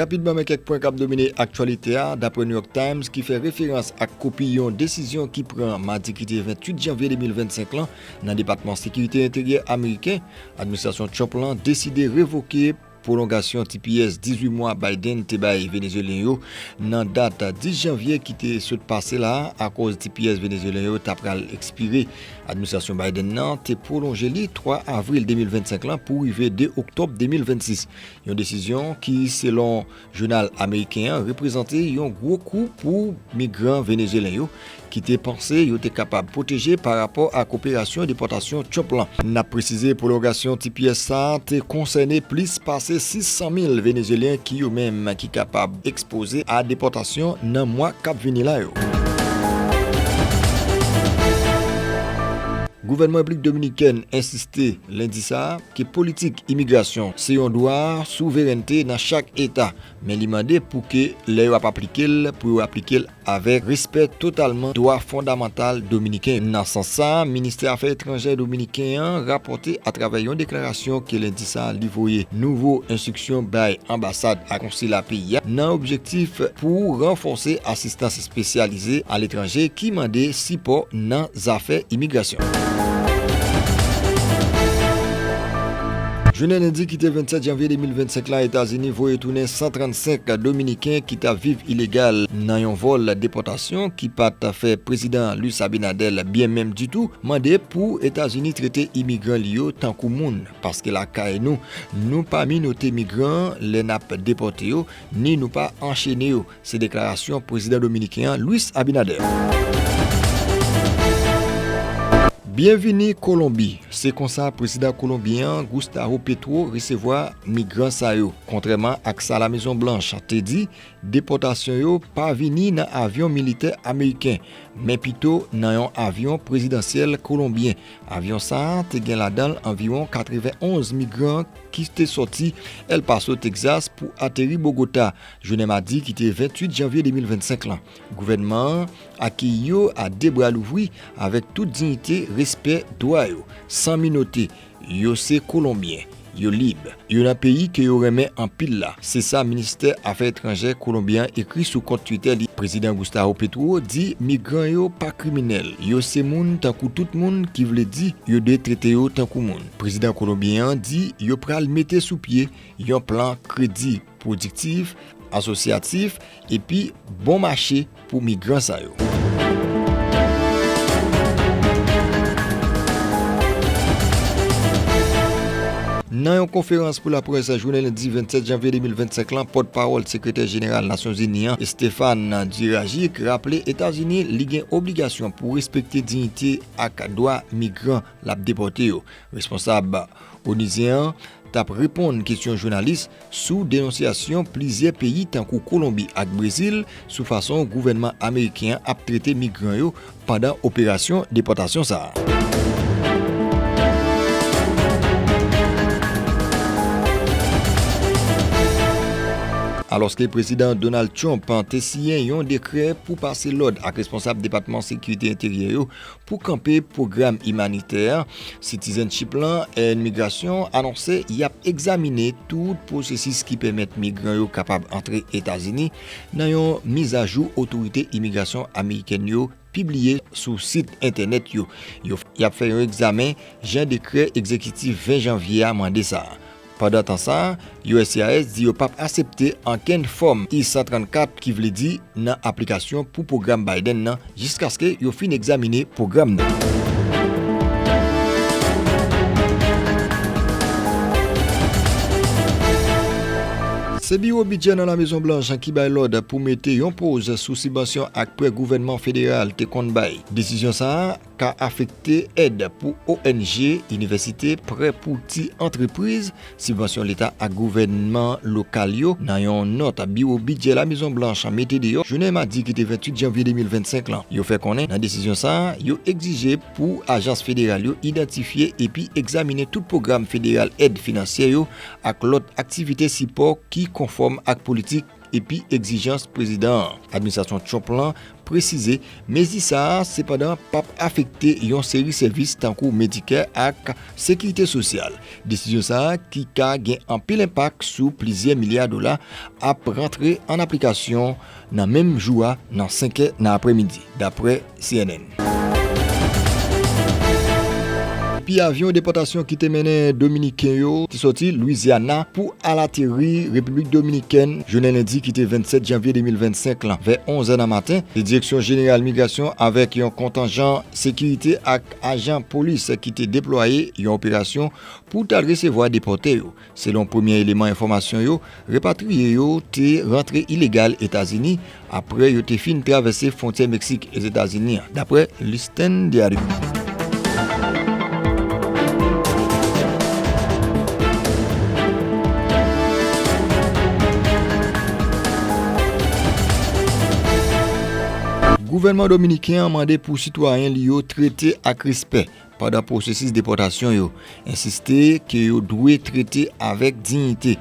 Rapidman men kèk pwen k ap domine aktyalite a dapre New York Times ki fè referans ak kopi yon desizyon ki pran madi ki te 28 janvye 2025 lan nan Depatman Sekirite Enteryè Ameriken. Administrasyon Trump lan deside revoke. Pwolongasyon tps 18 mwa Biden te bay Venezyelyen yo nan dat 10 janvye ki te sot pase la a akòz tps Venezyelyen yo ta pral ekspire. Administrasyon Biden nan te pwolonje li 3 avril 2025 lan pou rive 2 oktòb 2026, yon desizyon ki, selon. Jounal ameriken an reprezante yon gwo kou pou migran venezyelen yo ki te panse yo te kapab pwoteje pa rapò ak operasyon depòtasyon Trump lan. N ap presize pwolongasyon ti pyès sa a te konsène plis pase 600 mil venezyelyen ki yo menm ki kapab ekspoze a depòtasyon nan mwa k ap vini la yo. Gouvènman Repiblik Dominikèn ensiste lendi sa a. ke politik imigrasyon se yon dwa souverènte nan chak eta, men li mande pou ke lè yo ap aplike l pou yo aplike l avèk respè totalman dwa fondamantal dominiken. Nan sans sa, Ministè Afè Etranjè dominiken an rapòte atravè yon deklarasyon ke lendi sa li voye nouvo enstriksyon bay anbasad ak konsila peyi a nan objektif pou ranfòse asistans spesyalize aletranje ki mande sipò nan zafè imigrasyon. Jounen lendi ki te 27 janvye 2025 la, Etazini voye tounen 135 dominiken ki t ap viv ilegal nan yon vòl depòtasyon ki pa t fè Prezidan Luis Abinader byen menm ditou, mande pou Etazini trete imigran li yo tankou moun, paske lakay nou, nou pa minote migran lè n ap depòte yo, ni nou pa anchene yo. Se deklarasyon prezidan dominiken an Luis Abinader. Byenvini Kolonbi, se konsa prezidan kolonbyen an Gustavo Petro resevwa migran sa yo. Kontrèman ak sa La Mezon Blanch te di, depòtasyon yo pa vini nan avyon militè ameriken, men pito nan yon avyon prezidansyèl kolonbyen. Avyon sa a te gen ladan l anviwon 91 migran ki te sòti El Paso, Texas pou ateri Bogota. Jounen madi ki te 28 janvye 2025 lan, gouvènman an akeyi yo a 2 bra louvri avèk tout diyite, respè dwa yo, san minote, yo se Kolonbyen, yo lib, yo nan peyi ke yo renmen anpil la, se sa Ministè Afè Etranjè Kolonbyen an ekri sou kont Twitter li. Prezidan Gustavo Petro di migran yo pa kriminèl, yo se moun tankou tout moun ki vle di yo dwe trete yo tankou moun. Prezidan Kolonbyen an di yo pral mete sou pye yon plan kredi. pwodiktif, asosyatif epi bon mache pou migran sa yo. Nan yon konferans pou laprès jounen lendi 27 janvye 2025 lan, pòtpawòl sekretè jeneral Nasyonzini an, Stéphane Dujarric, raple Etazini li gen obligasyon pou respekte diyite ak dwa migran l ap depòte yo. Responsab onizyen an t ap reponn kesyon jounalis. sou denonsyasyon plizyè peyi tankou Kolonbi ak Brezil sou fason gouvènman ameriken an ap trete migran yo pandan operasyon depòtasyon sa a. Alòske Prezidan Donald Trump te siyen yon dekrè pou pase lòd ak responsab Depatman Sekirite Enteryè yo Pou kanpe pwogram imanitè Citizenship la, AN Migrasyon anonse y ap egzamine tout pwosesis ki pèmèt migran yo kapab antre Etazini nan yon mizajou otorite imigrasyon amerikèn yo pibliye sou sit entènèt yo. Y ap fè yon egzamen jan dekrè egzekitif 20 janvye a mande sa a. Pandan tan sa, uscis di yo pap asepte ankenn fòm I-134 ki vle di nan aplikasyon pou pwogram Biden nan jiskaske yo fin egzamine pwogram nan. Se Biwo Bidjè nan Lamezon Blanch ki bay lòd pou mete yon poz sou sibansyon ak prè gouvènman federal te konn bay. Desizyon sa a. ka afekte èd pou ong, inivèsite, prè pou ti antrepriz, sibvansyon leta ak gouvènman lokal yo, nan yon nòt biwo bidjè Lamezon Blanch mete deyò jounen madi ki te 28 janvye 2025 lan. Yo fè konnen nan desizyon sa a, yo egzije pou ajans federal yo idantifye epi egzaminen tout pwogram federal èd finansyè yo ak lòt aktivite sipò ki konfòm ak politik epi egzijans prezidan an. Administrasyon Trump lan presize mezi sa a sepandan p ap afekte yon seri sèvis tankou Medicare ak Sekirite Sosyal. Desizyon sa a ki ka gen anpil enpak sou plizyè milya dola ap rantre an aplikasyon nan menm jou a nan 5 è nan aprèmidi, dapre. cnn. Epi avyon depòtasyon ki te mennen dominiken yo te sòti Louisiana pou al ateri Repiblik Dominikèn jounen lendi ki te 27 janvye 2025 lan vè 11 è nan maten, se Direksyon Jeneral Migrasyon avèk yon kontanjan sekirite ak ajan polis ki te deplwaye yon operasyon pou t al resevwa depòte yo. Selon premye eleman enfòmasyon yo, repatriye yo te rantre ilegal Etazini apre yo te fin travèse fwontyè Meksik e Etazini an, dapre Listín Diario. Gouvènman dominiken an mande pou sitwayen li yo trete ak respè pandan pwosesis depòtasyon yo, ensiste ke yo dwe trete avèk dignite.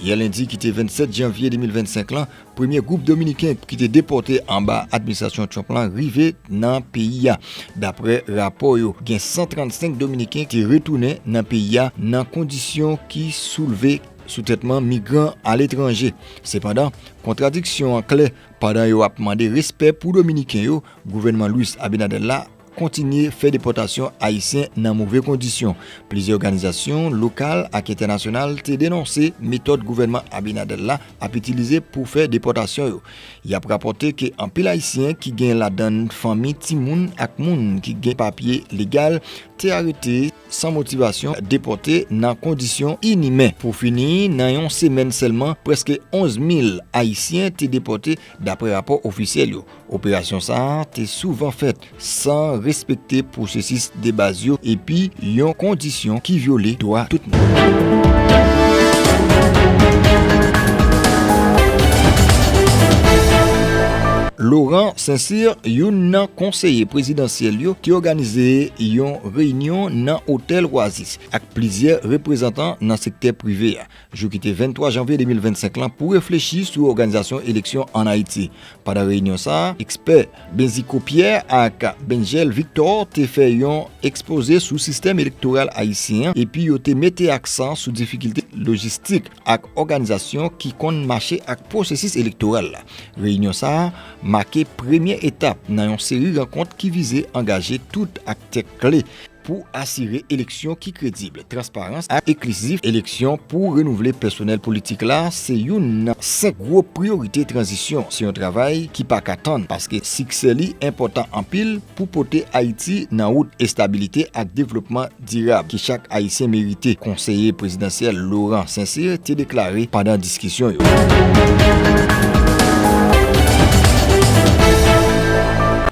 Yè lendi ki te 27 janvye 2025 lan, premye gwoup Dominiken ki te depòte anba administrasyon Trump lan rive nan peyi a. Dapre rapò yo, gen 135 Dominiken ki retounen nan peyi a nan kondisyon ki soulve sou tretman migran aletranje. Sepandan, kontradiksyon an klè pandan yo ap mande respè pou Dominiken yo, gouvènman Luis Abinader la kontinye fè depòtasyon Ayisyen nan move kondisyon. Plizyè òganizasyon lokal ak entènasyonal te denonse metòd gouvènman Abinader la ap itilize pou fè depòtasyon yo. Y ap rapòte ke anpil Ayisyen, ki gen ladan n fanmi, timoun ak moun ki gen papye legal, te arete san motivasyon, depòte nan kondisyon inimen. Pou fini, nan yon semèn sèlman, prèske 11 mil Ayisyen te depòte Daprè rapò ofisyèl yo, operasyon sa a te souvan fèt san respekte pwosesis debaz yo epi yon kondisyon ki vyole dwa tout moun. Laurent Saint-Cyr, youn nan konseye prezidansyèl yo, te òganize yon reyinyon nan otèl Oasis ak plizyè reprezantan nan sektè prive a. jou ki te 23 janvye 2025 lan pou reflechi sou òganizasyon eleksyon ann Ayiti. Pandan reyinyon sa a, ekspè Benzico Pierre ak Bengel Victor te fè yon ekspoze sou sistèm elektoral ayisyen an epi yo te mete aksan sou difikilte lojistik ak òganizasyon ki konn mache ak pwosesis elektoral la. Reyinyon sa a make premye etap nan yon seri rankont ki vize angaje tout aktè kle pou asire eleksyon ki kredib, transparan ak enklizif. Eleksyon pou renouvle pèsonèl politik la se youn nan 5 gwo priyorite tranzisyon. Se yon travay ki pa ka tann paske siksè li enpòtan anpil pou pote Ayiti nan wout estabilite ak devlopman dirab ke chak Ayisyen merite, konseye prezidansyèl Laurent Saint-Cyr te deklare pandan diskisyon yo.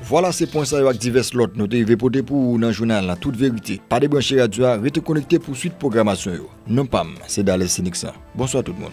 Vwala se pwen sa yo ak divès lòt nou te rive pote pou ou nan jounal la Tout Verite. Pa debranche radyo a, rete konekte pou swit pwogramasyon yo. Non pa m, se Dales Seniksan. Bonswa tout moun.